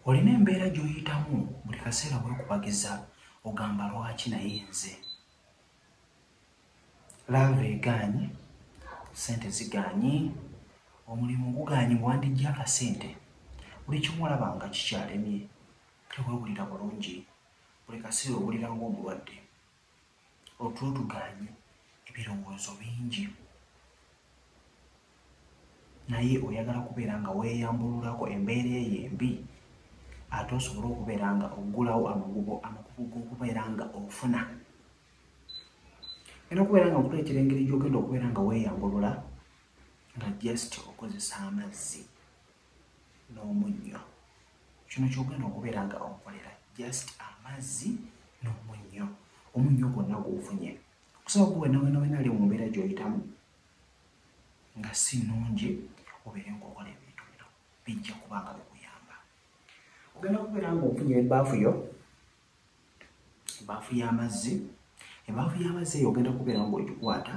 Olina embeera gy'oyitamu buli kaseera weekubagiza ogamba lwaki naye nze. Laava egaanyi, ssente zigaanyi, omulimu gugaanyi bwe wandiggya akasente, buli kimu olaba nga kikyalemye, teweewulira bulungi, buli kaseera owulira ng'omulwadde. Otulutugaanye ebirowoozo bingi naye oyagala kubeera nga weeyambululako embeera eyo embi ate osobole okubeera nga oggulawo amagubo amakubo g'okubeera nga ofuna era okubeera nga nkuleetera engeri gy'ogenda okubeera nga weeyambulula nga just okozesa amazzi n'omunnyo. Kino ky'ogenda okubeera nga okolera just amazzi n'omunnyo. Omunnyo gwonna gw'ofunye okusaba gwe wena wena wena ali mu mbeera gy'oyitamu nga si nnungi obeere ng'okola ebintu bino bijja kuba nga bikuyamba. Ogenda kubeera ng'ofunye ebbaafu yo, ebbaafu y'amazzi, ebbaafu y'amazzi eyo ogenda kubeera ng'ogikwata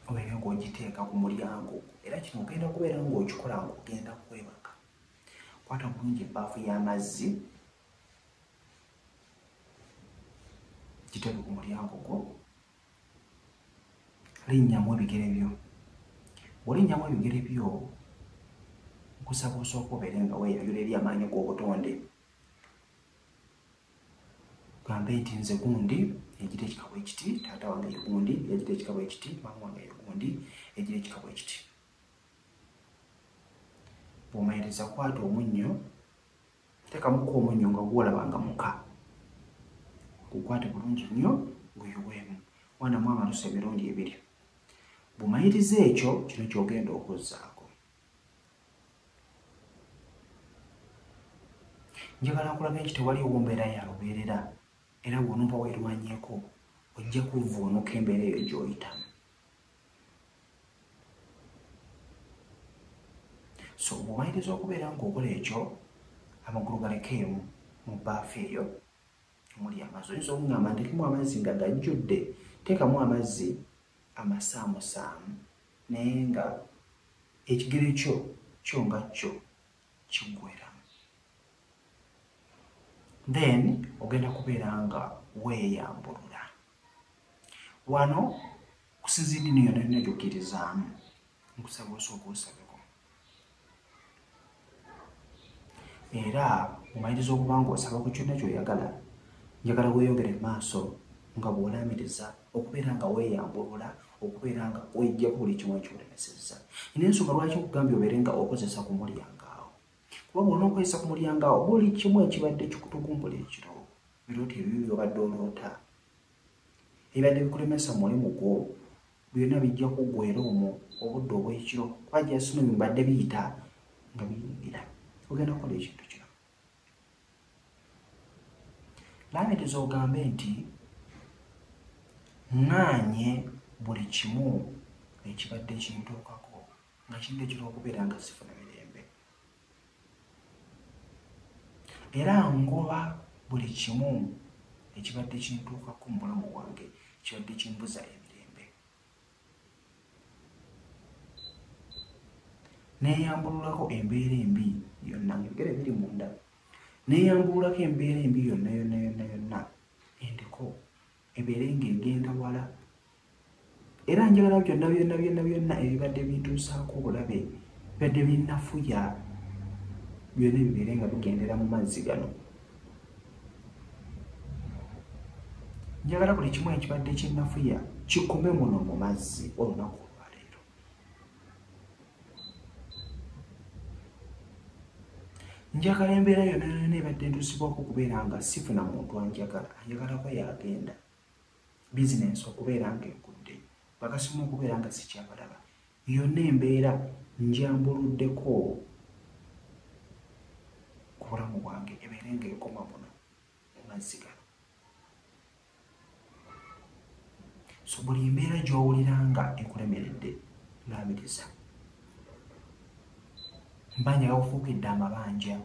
obeera ng'ogiteeka ku mulyango era kino ogenda kubeera ng'okikola ng'ogenda kwebaka. Kwata bulungi ebbaafu y'amazzi giteeke ku mulyango gwo, linnyamu ebigere byo. Bw'olinnyamu ebigere byo nkusaba osooke obeere nga weeyayula eri amaanyi g'obutonde. Gambe nti, Nze gundi, egira ekika bwe kiti, taata wange ye gundi, egira ekika bwe kiti, maama wange ye gundi, egira ekika bwe kiti. Bw'omaliriza kwata omunnyo, teekamuko omunnyo nga gw'olaba nga muka. Gukwate bulungi nnyo, guyiweemu. Wanamu amalusu emirundi ebiri. Bw'omaliriza ekyo, kino ky'ogenda okuzzaako. njagala nkulabe nti tewaliwo mbeera ya lubeerera era bw'onooba weerwanyeeko ojja kuvvuunuka embeera eyo gy'oyitamu so bw'omaliriza okubeera ng'okola ekyo amagulu galekeemu mu baafu eyo omuli amazzi oyinza okungamba ntekemu amazzi nga gajjudde teekamu amazzi amasaamusaamu Naye nga ekigere kyo kyo nga kyo kigwera then ogenda kubeera nga weeyambulula. Wano okusinzira eddiini yonna yonna gy'okkirizaamu nkusaba osooke osabeko. era omaliriza okuba ng'osaba ku kyonna ky'oyagala njagala weeyongere mu maaso nga bw'olaamiriza okubeera nga weeyambulula okubeera nga weeggyako buli kimu ekyolemesezza ina ensonga lwaki okugambye obeere nga okozesa ku mulyango awo kuba bwona okozesa ku mulyango awo buli kimu ekibadde kikutugumbula ekiro biroota ebibi byobadde oloota ebibadde bikulemesa mulimu gwo Byona bijja kugwera omwo obudde obwekiro kuba just know bibadde biyita nga biyingira ogenda kukola ekintu kino lamitiza ogambe nti ŋŋaanye buli kimu ekibadde kintuukako nga kintu ekira okubeera nga sifuna mirembe era ngoba buli kimu ekibadde kintuukako mu bulamu bwange kibadde kimbuza emirembe. Neyambululako embeera embi yonna njogere biri munda neyambululako embeera embi yonna yonna yonna yonna endiko ebeere ng'egenda wala Era njagala byonna byonna byonna byonna ebibadde bintuusaako obulabe, ebibadde binnafuya, byonna bibeere nga bigendera mu mazzi gano. Njagala buli kimu ekibadde kinnafuya kikome muno mu mazzi olunaku olwaleero. Njagala embeera yonna yonna ebadde entuusibwako okubeera nga sifuna muntu anjagala, anjagalako y'agenda. bizinensi okubeera ng'egudde, bakasitoma okubeera nga sikyabalaba, yonna embeera njambuluddeko ku bulamu bwange ebeere ng'ekoma buno mu mazzi gano. So buli mbeera gy'owulira nga ekulemeredde laamiriza. Mba njagala kufuukidde amabanja.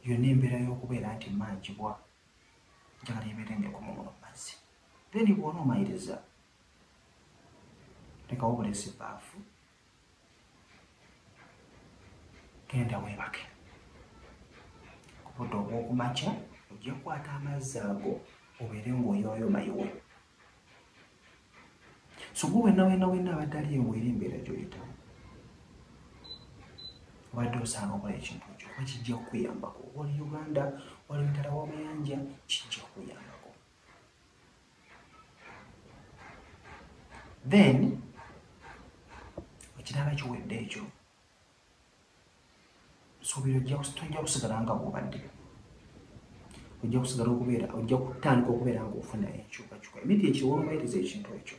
Yonna embeera y'okubeera nti mmanjibwa njagala ebeere ng'ekoma muno mu mazzi. Then bw'onoomaliriza, lekawo buleesi bbaafu, genda weebake. Ku budde obw'oku makya ojja kukwata amazzi ago obeere ng'oyooyoma iwe. so gwe wenna wenna wenna abadde ali ewo era embeera gyoyitamu obadde osaana okola ekintu ekyo kuba kijja kukuyambako wali uganda wali mutala wamayanja kijja kukuyambako then ekirala kiwedde ekyo nsuubira ojja kus- tojja kusigala nga bw'obadde ojja kusigala okubeera ojja kutandika okubeera ng'ofuna enkyukakyuka emiti ekiwongoyereza ekintu ekyo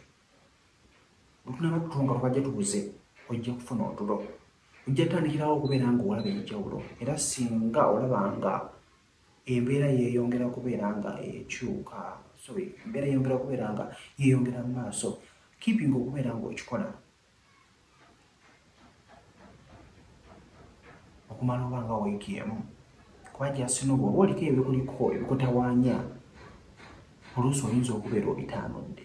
lutunaba tuto nga lubajja tubuze ojja kufuna otulo ojja tandikirawo okubeera ng'olaba enjawulo era singa olaba nga embeera yeeyongera kubeera nga ekyuka sorry embeera yeeyongera kubeera nga yeeyongera mu maaso keeping okubeera ng'okikola okumala oba nga wiiki emu kuba jasino bwoba oliko ebikuliko ebikutawaanya oluusi oyinza okubeera obitaanudde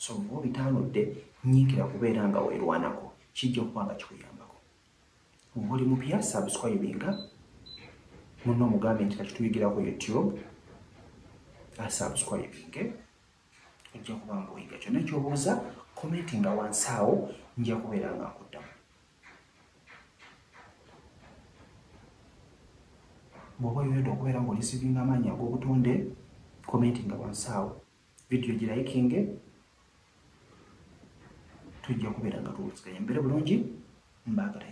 so bwoba obitaanudde nyiikira kubeera nga weerwanako kijja okuba nga kikuyambako bwoba oli mupya subscribinga munno omugambe nti kakituyigira ku youtube asubscribinge okay? ojja kuba nga oyiga kyonna kyobuuza komenti nga wansi awo nja kubeera nga nkuddamu bwoba oyenda okubeera nga olisivinga amaanyi ag'obutonde komenti nga wansi awo vidiyo girayikinge tujja kubeera nga tuwuliziganya mbeere bulungi mbaagala